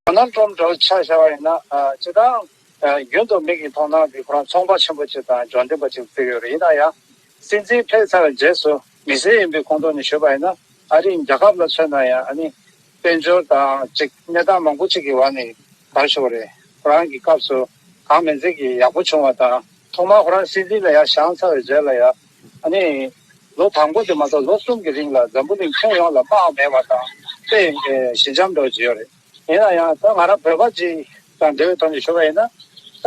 ཁོ་ནར་ཁྲོམ་བསྒྲགས་བྱ་བཞག་པ་ཡིན་ན་ཇི་ལྟར་འང། རྒྱུན་དུ་མིག་གིས་མཐོང་སྟངས་དེ་ཁོ་རང་ཚོང་པ་ཆེན་པོ་ཅིག་དང་ལྗོངས་འདེབས་པ་ཅིག་ཏུ་གྱུར་ཡོད་རེད་ཡིན་ན་ཡང། སྲིད་འཛིན་ཕེབས་ཚར་བའི་རྗེས་སུ་མི་སེར་ཡིན་པའི་ཁོང་ཁྲོ་ནས་བྱོལ་བ་ཡིན་ན་ཨ་རིའི་རྒྱལ་ཁབ་ལ་མཚོན་ན་ཡང་ཨ་ནི། དཔལ་འབྱོར་དང་གཅིག་གནས་སྟངས་མང་པོ་ཅིག་གི་བར་ནས་དར་ཤོར་བ་རེད། ཁོ་རང་གི་སྐབས་སུ། གང་མེད་ཚིག་གིས་ཡག་པོ་བྱུང་བ་དང། ཐོག་མར་ཁོ་རང་སྲིད་འཛིན་ལ་ཡར་བཞག་ཚར་བའི་རྗེས་ལ་ཡང། ཨ་ནི། ལོ་དང་པོ་དེ་མ་གཏོགས་ལོ་གསུམ་གྱི་རིང་ལ་འཛམ་བུ་གླིང་ཁྱོན་ཡོངས་ལ་དམག་མེད་པ་དང། དཔེ་ཞི་འཇམ་འགྲོ་བགྱིས་ཡོད་རེད། ཡིན་ན་ཡང་ད་ང་རང་བོད་པ་ཅིག་དང་འབྲེལ་བའི་ཐོག་ནས་ཞུ་བ་ཡིན་ན། ད་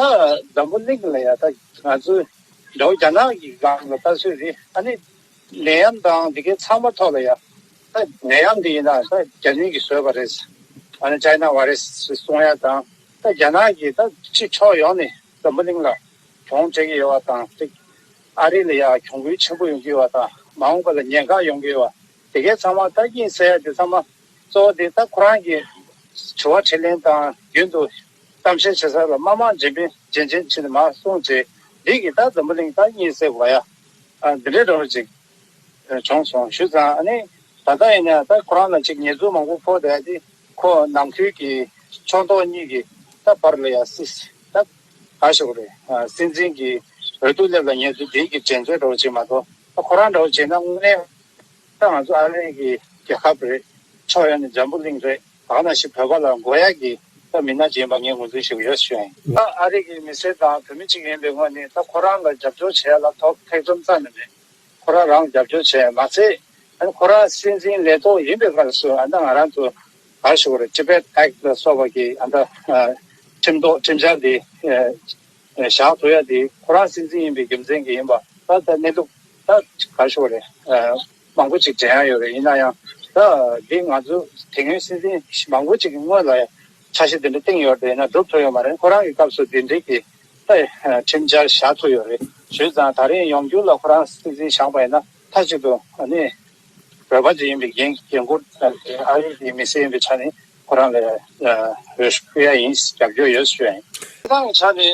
འཛམ་བུ་གླིང་ལ་ཡང་ད་ང་ཚོའི་འདྲ་བོ་རྒྱ་ནག་གི་སྒང་ལ་ད་སུས་རེད་ཨ་ནི། ནད་ཡམས་དང་དེ་གའི་ཚང་མ་ཐོག་ལ་ཡང། ད་ནད་ཡམས་དེ་ཡིན་ན་ད་རྒྱ་མིང་གིས་བཟོས་པ་རེད། ཨ་ནི China Virus ཞེས་གསུང་ཡ་དང། ད་རྒྱ་ནག་གིས་ད་ཕྱིས་ཕྱོགས་ཡོངས་ནས་འཛམ་བུ་གླིང་ལ་གྱོང་སྤྲད་ཀྱི་ཡོད་པ་དང་གཅིག་ཨ་རི་ལ་ཡང་གྱོང་གུན་ཆེན་པོ་ཡོང་གི་ཡོད་པ་དང་མ་འོངས་པ་ལ་ཉེན་ཁ་ཡོང་གི་ཡོད་པ་དེ་གས་ཚང་མ་ད་སྐྱིན་བསལ་ཡ་དེ་ཚང་མ་གཙོ་བོ་དེ་ད་ཁོ་རང་གིས་དྲི་བ་དྲིས་ལན་དང་རྒྱུན་དུ་གཏམ་བཤད་བྱེད་ས་ལ་དམའ་དམའ་འཇེན་པིན་འཇེན་འཇེན་བྱེད་ནས་མ་སོང་རྗེས་འདི་གིས་ད་འཛམ་བུ་གླིང་ད་སྐྱིན་བསལ་དགོས་ཡ་འདི་འདྲའི་རོ་ཅིག་བྱུང་སོང་ཞུ་ཙང་ཨ་ནི་ད་ད་ཡིན་ན་ད་ཁོ་རང་ལ་ཅིག་ཉེས་འཛུགས་མང་པོ་ཕོག་ད་ཡ་དེ། ཁོ་ནང་ཁུལ་གྱི་ཕྱོགས་མདོག་གཉིས་ཀྱི་ད་བར་ལ་ཡང་སྲིད་ད་ག་ཞོག་རེད་སྲིད་འཛིན་གྱི་འོས་བསྡུ་སླེབས་ལ་ཉེ་དུས་བདེན་གྱི་དྲན་ཚོད་འདྲ་བོ་བྱེད་མ་གཏོགས་ད་ཁོ་རང་འདྲ་བོ་བྱེད་ན་དངོས་གནས་ད་ང་ཚོ་ཨ་རི་གྱི་རྒྱལ་ཁབ་རེད་ཕྱོགས་ཡོངས་ནས་འཇམ་པོ་གླིང་རེད་གང་ན་ཞིག་བོད་པ་ལ་མགོ་ཡག་གི་ད་མི་ནག་ཅིག་ཡིན་པ་ངས་ངོས་འཛིན་ཞུ་གི་ཡོད་བཞིན། ད་ཨ་རི་གྱི་མི་སེར་དང་བོད་མི་གཅིག་ཡིན་པའི་ངོས་ནས་ད་ཁོ་རང་ལ་རྒྱབ་སྐྱོར་བྱེད་ཡ་ལ་ཐོག་ཐེག་རྩོམ་རྩ་ནས་མེད་ཁོ་རང་རང་རྒྱབ་སྐྱོར་བྱས་མ་ཚད་ཡང་ཁོ་རང་སྲིད་འཛིན་ལས་ཐོག་ཡིན་པའི་སྐབས་སུ་ང་རང་ཚོ་གར་ཞུགས་རེད Tibet Act ལ་སོགས་པ་ཀྱི་ཁྲིམས་ཐོག་ཁྲིམས་འཆར་དེ་བཞག་ཐུབ་ཡ་དེ་ཁོ་རང་སྲིད་འཛིན་ཡིན་པའི་རྒྱུ་མཚན་གྱི་ཡིན་པ་ད་ལྟ་གནས་ལུགས་ད་གར་ཞུགས་རེད་མང་པོ་ཅིག་དྲན་ཡ་ཡོད་རེད་ཡིན་ན་ཡང་ད་འདི་ང་ཚོ་དེ་སྔོན་སྲིད་འཛིན་མང་པོ་ཅིག་གི་སྔོན་ལ་འཆར་གཞི་དེ་འདྲ་བཏིང་ཡོད་དེ་ཡིན་ན་སྒྲུབ་ཐུབ་ཡོད་མ་རེད་ཁོ་རང་གི་སྐབས་སུ་དེ་འདྲིའི་ཁྲིམས་འཆར་བཞག་ཐུབ་ཡོད་རེད་ཞུས་ཙང་ད་རིང་ཡོང་རྒྱུ་ལ་ཁོ་རང་སྲིད་འཛིན་བཞག་པ་ཡིན་ན་མཐའ་གཅིག་ཏུ་ནི་བོད་པ་དེ་ཡིན་པའི་རྒྱན་གོས་ཨ་རིག་གི་མི་སེར་ཡིན་པའི་ཆ་ནས་ཁོ་རང་ལ་རེ་སྐུལ་ཡ་ཡིན་རྒྱབ་སྐྱོར་ཡོད་ཞུ་ཡ་ཡིན། དེ་དག་གི་ཆ་ནས་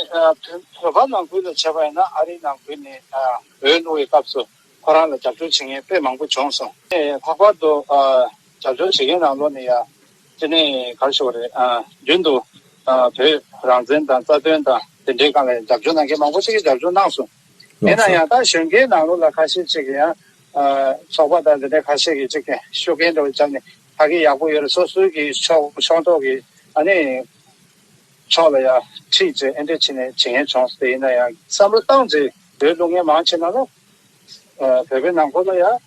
བོད་པ་ནང་ཁུལ་ལ་བྱས་པ་ཡིན་ན་ཨ་རིའི་ནང་ཁུལ་ནས་འོས་བླུག་བའི་སྐབས་སུ་ཁོ་རང་ལ་རྒྱབ་སྐྱོར་བྱེད་མཁན་དཔེ་མང་པོ་བྱུང་སོང་ལྷག་པར་དུ་རྒྱབ་སྐྱོར་བྱེད་མཁན་རང་ལོ་ནས་ཡ། དེ་ནས་གར་ཤོར་བ་རེད། རྒྱུན་དུ་བོད་རང་བཙན་དང་རྩ་དོན་དང་དེ་འདྲའི་སྒང་ལ་ཡང་རྒྱབ་སྐྱོར་གནང་མཁན་མང་པོ་ཞིག་གིས་རྒྱབ་སྐྱོར་གནང་སོང། ཡིན་ན་ཡང་ད་གཞོན་སྐྱེས་ནང་ལོགས་ལ་ཁ་ཤས་ཅིག་གིས་ཡང་ཚོགས་པ་དང་དེ་འདྲའི་ཁ་ཤས་ཀྱིས་ཅིག་ཤོད་མཁན་འདྲ་བོ་བརྒྱབ་ནས་ཕ་གི་ཡག་པོ་ཡོད་རེད་སོ་སོའི་གི་ཕྱོགས་ཕྱོགས་མདོག་གི་ཨ་ནེ་ཕྱོགས་ལ་ཡང་ཁྲིད་ཅེས་ཨེ་འདྲས་བྱེད་ནས་བྱེད་མཁན་བྱུང། དེ་ཡིན་ན་ཡང་བསམ་བློ་བཏང་རྗེས་བོད་ལུགས་ངན་མང་ཆེ་ནང་ལོགས། བོད་པའི་ནང་ཁོ་ལ་ཡང།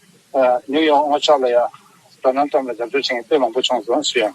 ནིའུ་ཡོག་སྔོ་ཆགས་ལ་ཡང། དོ་སྣང་ཙམ་ལ་རྒྱབ་སྐྱོར་བྱེད་མཁན་དཔེ་མང་པོ་བྱུང་སོང་སུ་ཡང།